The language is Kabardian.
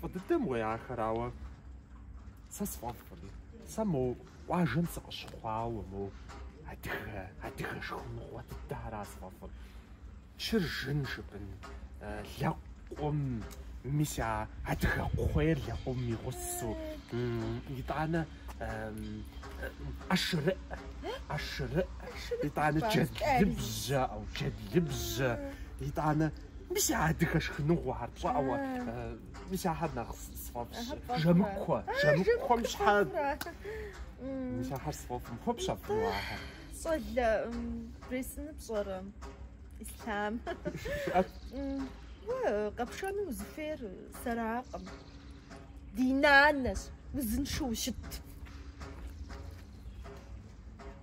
Фӏы дыдэм уей ахэр, ауэ сэ сфӏэфӏкъым. Сэ мо къуажэм сыкъыщыхъуауэ, мо адыгэ, адыгэ шхыныгъуэ дыдэра сфӏэфӏыр. Чыржын жыпӏэн лэкъум, мис а адыгэ кхъуейр лэкъум игъусу, итӏанэ ӏэшырыӏ, ӏэшырыӏ, итӏанэ джэдлыбжьэ, ау, джэдлыбжьэ, итӏанэ Мис а адыгэ шхыныгъуэхэр пщӏауэ. Мис ахэр нэхъ сфӏэфӏщ. Жэмыкуэ, жэмыкуэм щхьэ. Мис ахэр сфӏэфӏым хуэпщӏ абы ахэр. Щӏалэ брэсыны пщӏэрэ? Ислъам. Уэ къэпшэну узыхуейр сэракъым. Ди нанэщ, узыншэу щыт.